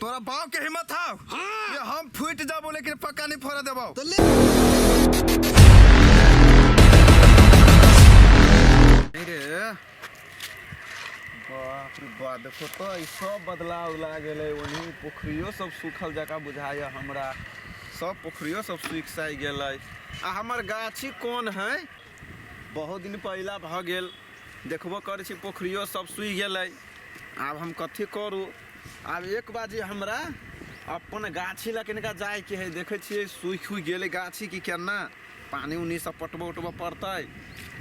तोरा बाप के हिम्मत हौ हाँ। ये हम फूट जाबो लेकिन पक्का नहीं फोड़ा देबो तो ले रे बाप रे बा देखो तो ई सब बदलाव ला गेलै ओनी पोखरियो सब सूखल जका बुझाइए हमरा सब पोखरियो सब सूख साइ गेलै आ हमर गाछी कोन है बहुत दिन पहिला भऽ गेल देखबो करै छी पोखरियो सब सूखि गेलै आब हम कथी करू आब एक बाजी हमरा अपन गाछी लऽ किनका जायके है देखै छियै सूखि सूखि गेलै गाछी कि केना पानि उनी सब पटबऽ उटबऽ पड़तै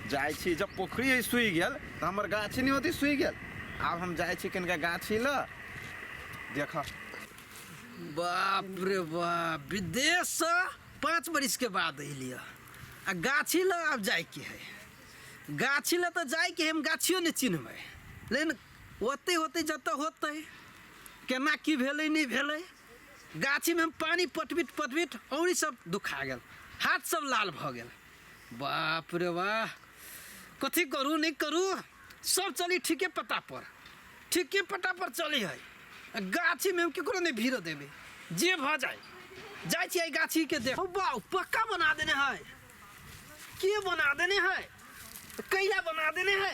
जाइ छी जब पोखरी है सूखि गेल तऽ हमर गाछी नहि होती सूखि गेल आब हम जाइ छी किनका गाछी लऽ देख बाप रे बाप विदेश से पाँच बरिस के बाद अलियै आ गाछी लऽ आब जायके है गाछी लऽ तऽ जायके है हम गाछियो नहि चिन्हबै लेकिन ओतै होतै जतऽ होतै केना की भेलै नहि भेलै गाछीमे हम पानि पटबित पटबित औरी सब दुखा गेल हाथ सब लाल भऽ गेल बाप रे वाह कथी करू नहि करू सब चली ठीके पता पर ठीके पता पर चलै है आ गाछीमे हम केकरो नहि भीड़ देबै जे भऽ जाय जाइ छियै एहि गाछीके देख हौ बाउ पक्का बना देने है के बना देने है कैला बना देने है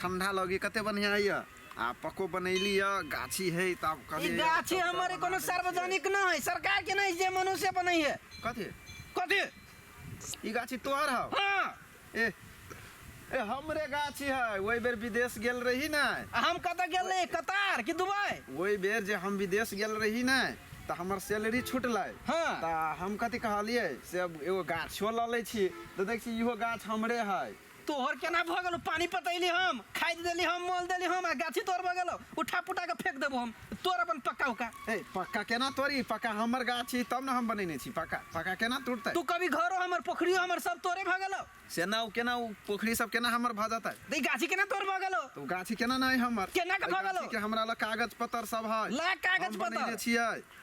ठंडा लगी कते बढ़िया है यह आ पको बनैली यह गाछी है त आब ई कभी गाछी हमर कोनो सार्वजनिक न है सरकार के नहीं जे मनुष्य बनै है कथी कथी ई गाछी तोहर हौ हाँ ए ए हमरे गाछी है ओहि बेर विदेश गेल रही ना आ हम कतऽ गेल रही कतार कि दुबई ओहि बेर जे हम विदेश गेल रही ना तऽ हमर सैलरी छुटलै हाँ। तऽ हम कथी कहलियै से अब एगो गाछो लऽ लै छी तऽ देख छी इहो गाछ हमरे है तोहर केना भऽ गेलौ पानी पटैली हम खाद देली हम मोल देली हम आ गाछी तोर भऽ गेलौ उठा पुटा के फेंक देबो हम तोर अपन पक्का उका ए पक्का केना तोरी पक्का हमर गाछ छी तब ने हम बनेने छी पक्का पक्का केना टूटतै तू कभी घरो हमर पोखरियो हमर सब तोरे भऽ गेलौ से ना ओ केना ओ पोखरी सब केना हमर भऽ जेतै त ई गाछी केना तोर भऽ गेलौ तऽ ओ गाछी केना नहि हमर केना के एहि भऽ गेलौ? गाछी के हमरा लग कागज पत्तर सब है ला कागज हम बनेने पत्तर। छियै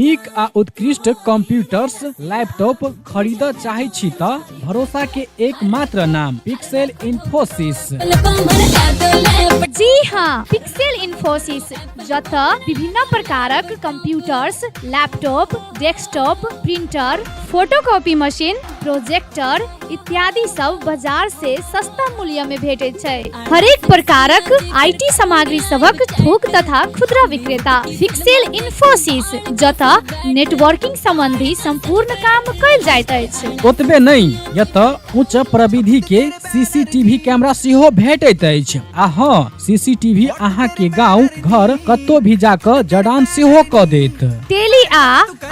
नीक आ उत्कृष्ट कंप्यूटर्स लैपटॉप खरीद चाहे छी त भरोसा के एकमात्र नाम पिक्सेल इन्फोसिस जी हाँ पिक्सेल इन्फोसिस जत विभिन्न प्रकारक computers laptop desktop printer photocopy machine projector इत्यादि सब बाजार से सस्ता मूल्य में भेटे छै हरेक प्रकारक आईटी सामग्री सबक थोक तथा खुदरा विक्रेता फिक्सेल इन्फोसिस जतऽ नेटवर्किंग संबंधी संपूर्ण काम कयल जाइत अछि ओतबे नहि यतऽ उच्च प्रविधि के सीसीटीवी कैमरा सेहो भेटैत अछि आ हँ सीसीटीवी अहाँ के गांव घर कतौ भी जाकऽ जडान सेहो कऽ देत टेली आ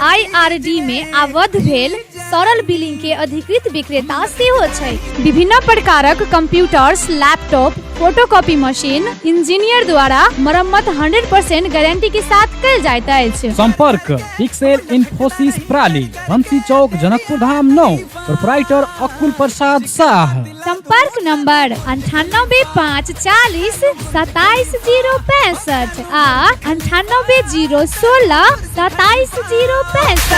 आईआरडी में आबद्ध भेल तरल बिलिंग के अधिकृत विक्रेता सेहो छै विभिन्न प्रकारक computers laptop photocopy machine engineer द्वारा मरम्मत 100% गारंटी के साथ कल जाइत अछि संपर्क पिक्सेल इन्फोसिस प्राली बंसी चौक जनकपुर धाम नौ प्रोपराइटर अकुल प्रसाद शाह संपर्क नंबर अंठानबे पाँच चालीस सताइस जीरो पैंसठ आ अंठानबे जीरो सोलह सताइस जीरो पैंसठ